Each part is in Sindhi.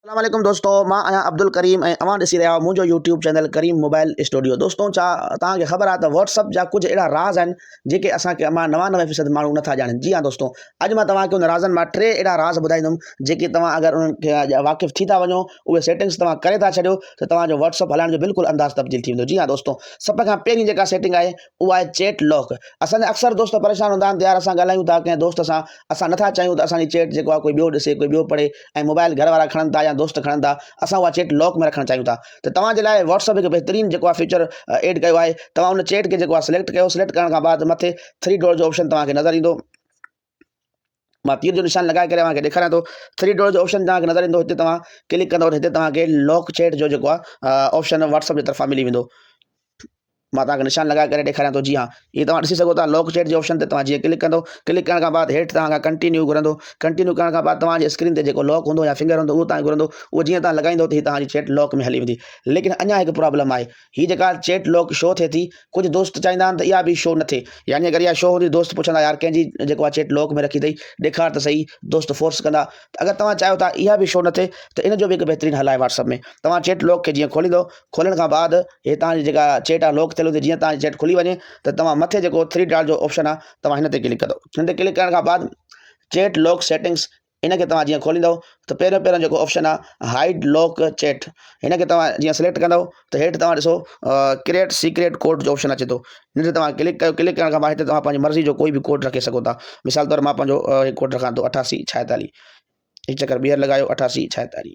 اسلام عليڪم دوستو مان آهيان عبدالڪريم ۽ اوهان ڏسي رهيا آهيو منهنجو YouTube channel Karim mobile studio دوستو ڇا توهان کي خبر آهي ته واٽس اپ جا ڪجهه اهڙا راز آهن جيڪي اسان کي امان نوانوي فيصد ماڻهو نه ٿا ڄاڻن جي ها دوستو اڄ مان توهان کي ان رازن مان ٽي اهڙا راز ٻڌائيندم جيڪي توهان اگر انهن کي اڄ واقف ٿي ٿا وڃو اهي سيٽنگس توهان ڪري ٿا ڇڏيو ته توهان جو واٽس اپ هلائڻ جو بلڪل انداز تبديل ٿي ويندو جي ها دوستو سڀ کان پهرين جيڪا سيٽنگ آهي اها آهي چيٽ لاڪ اسان جا اڪثر دوست پريشان هوندا آهن ته يار اسان ڳالهايون ٿا ڪنهن دوست سان اسان نه ٿا چاهيون ته اسان جي چيٽ جيڪو آهي ڪوئي ٻيو ڏسي ڪوئي ٻيو پڙهي ۽ موبائل گهر وارا کڻن ٿا يا دوست کڻن ٿا اسان اها چيٽ لاڪ ۾ رکڻ چاهيون ٿا ته توهان جي لاء واٽس اپ هڪ بهترين جيڪو آهي فيچر ايڊ ڪيو آهي توهان ان چيٽ کي جيڪو آهي سليڪٽ ڪيو سليڪٽ ڪرڻ کان بعد مٿي ٿري ڊوڙ جو آپشن توهان کي نظر ايندو مان تير جو نشان لڳائي ڪري اوهان کي ڏيکاريان ٿو ٿري ڊوڙ جو آپشن توهان کي نظر ايندو هتي توهان ڪلڪ ڪندو هتي توهان کي لاڪ چيٽ جو جيڪو آهي آپشن واٽس اپ جي طرفان ملي ويندو مان توهان کي نشان لڳائي ڪري ڏيکاريان ٿو جي ها هي توهان ڏسي سگهو ٿا لوڪ چيٽ جي آپشن تي توهان جيئن ڪلڪ ڪندو ڪلڪ ڪرڻ کان بعد هيٺ توهان کان ڪنٽينيو گهرندو ڪنٽينيو ڪرڻ کان بعد توهان جي اسڪرين تي جيڪو لوڪ هوندو يا فنگر هوندو اهو توهان کي گهرندو اهو جيئن توهان لڳائيندو ته هي توهان جي چيٽ لوڪ ۾ هلي ويندي ليڪن اڃا هڪ پرابلم آهي هي جيڪا چيٽ لوڪ شو ٿئي ٿي ڪجهه دوست چاهيندا آهن ته اها به شو نه ٿئي يعني اگر اها شو هوندي دوست پڇندا يار ڪنهن جي جيڪو آهي چيٽ لوڪ ۾ رکي اٿئي ڏيکار ته سهي دوست فورس ڪندا ته اگر توهان چاهيو ٿا اها به شو نه ٿئي ته ان جو به هڪ بهترين حل آهي واٽس اپ ۾ توهان چيٽ لوڪ کي جيئن کوليندو کولڻ کان بعد هي توهان جي جيڪا چيٽ آهي لوڪ ٿيل هوندي جيئن توهان جي چيٽ کلي وڃي ته توهان مٿي جيڪو ٿري ڊاٽ جو آپشن آهي توهان هن تي ڪلڪ ڪندو هن تي ڪلڪ ڪرڻ کان بعد چيٽ لوڪ سيٽنگس ان کي توهان جيئن کوليندو ته پهريون پهريون جيڪو آپشن آهي هائيڊ لوڪ چيٽ هن کي توهان جيئن سليڪٽ ڪندو ته هيٺ توهان ڏسو ڪريئيٽ سيڪريٽ ڪوڊ جو آپشن اچي ٿو هن تي توهان ڪلڪ ڪيو ڪلڪ ڪرڻ کان بعد هتي توهان پنهنجي مرضي جو ڪوئي به ڪوڊ رکي سگهو ٿا مثال طور مان پنهنجو ڪوڊ رکان ٿو اٺاسي ڇاهيتالي هڪ چڪر ٻيهر لڳايو اٺاسي ڇاهيتالي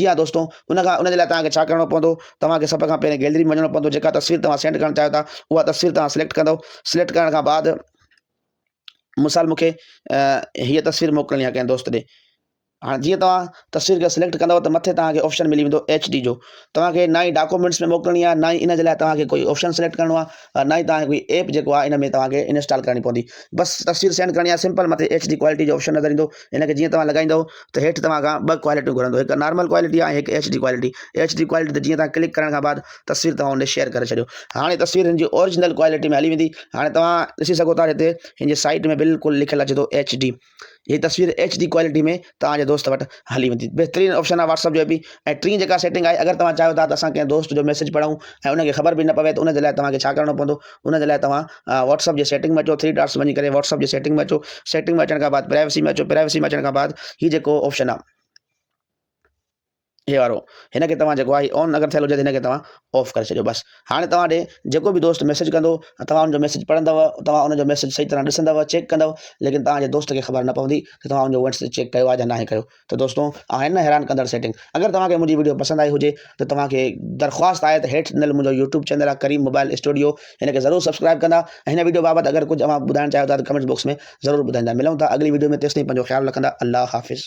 جي ها دوستو ان کان ان جي لاء توهان کي ڇا ڪرڻو پوندو توهان کي سڀ کان پهرين گيلري ۾ وڃڻو پوندو جيڪا تصوير توهان سينڊ ڪرڻ چاهيو ٿا اها تصوير توهان سليڪٽ ڪندو سليڪٽ ڪرڻ کان بعد مثال مون کي هيء تصوير موڪلڻي آهي ڪنهن دوست ڏي هاڻي جيئن توهان تصوير کي سليڪٽ ڪندو ته مٿي توهان کي آپشن ملي ويندو ايچ ڊي جو توهان کي نه ئي ڊاڪومينٽس ۾ موڪلڻي آهي نه ئي ان جي لاء توهان کي ڪوئي آپشن سليڪٽ ڪرڻو آهي نه ئي توهان کي ڪوئي ايپ جيڪو آهي ان ۾ توهان کي انسٽال ڪرڻي پوندي بس تصوير سينڊ ڪرڻي آهي سمپل مٿي ايڇ ڊي ڪوالٽي جو آپشن نظر ايندو ان کي جيئن توهان لڳائيندو ته هيٺ توهان کان ٻه ڪوالٽيون گهرندو هڪ نارمل ڪوالٽي آهي هڪ H D quality H D quality تي جيئن توهان ڪلڪ ڪرڻ کان بعد تصوير توهان هن شيئر ڪري ڇڏيو هاڻي تصوير هن جي اورجنل ڪوالٽي ۾ هلي ويندي هاڻي توهان ڏسي سگهو ٿا هتي هن جي سائيڊ ۾ بلڪل لکيل اچي ٿو ايڇ ڊي هي تصوير ايڇ ڊي ڪوالٽي ۾ توهان جي دوست وٽ هلي ويندي بهترين آپشن آهي واٽسپ جو به ۽ ٽين جيڪا سيٽنگ آهي اگر توهان چاهيو ٿا ته اسان ڪنهن دوست جو ميسيج پڙهون ۽ ان کي خبر به نه پوي ته ان جي لاء توهان کي ڇا ڪرڻو پوندو ان جي لاء توهان واٽسپ جي سيٽنگ ۾ اچو ٿري ڊاٽس وڃي ڪري واٽسپ جي سيٽنگ ۾ اچو سيٽنگ ۾ اچڻ کان بعد پرائيوسي ۾ اچو پرائيوسي ۾ اچڻ کان بعد هي جيڪو آپشن آهي هي وارو هن کي توهان جيڪو آهي آن اگر ٿيل هجي ته هن کي توهان آف ڪري ڇڏيو بس هاڻي توهان ڏي جيڪو به دوست ميسج ڪندو توهان ان جو ميسج پڙهندو توهان ان جو ميسج صحيح طرح ڏسندو چيڪ ڪندو ليڪن توهان جي دوست کي خبر نه پوندي ته توهان ان جو وينس چيڪ ڪيو آهي يا ناهي ڪيو ته دوستو آهن نه حيران ڪندڙ سيٽنگ اگر توهان کي منهنجي ويڊيو پسند آئي هجي ته توهان کي درخواست آهي ته هيٺ ڏنل منهنجو يوٽيوب چينل آهي ڪريم موبائل اسٽوڊيو هن کي ضرور سبسڪرائب ڪندا ۽ هن ويڊيو بابت اگر ڪجهه اوهان ٻڌائڻ چاهيو ٿا ته ڪمينٽس باڪس ۾ ضرور ٻڌائيندا ملون ٿا اڳلي ويڊيو ۾ تيسين پنهنجو خيال رکندا الله حافظ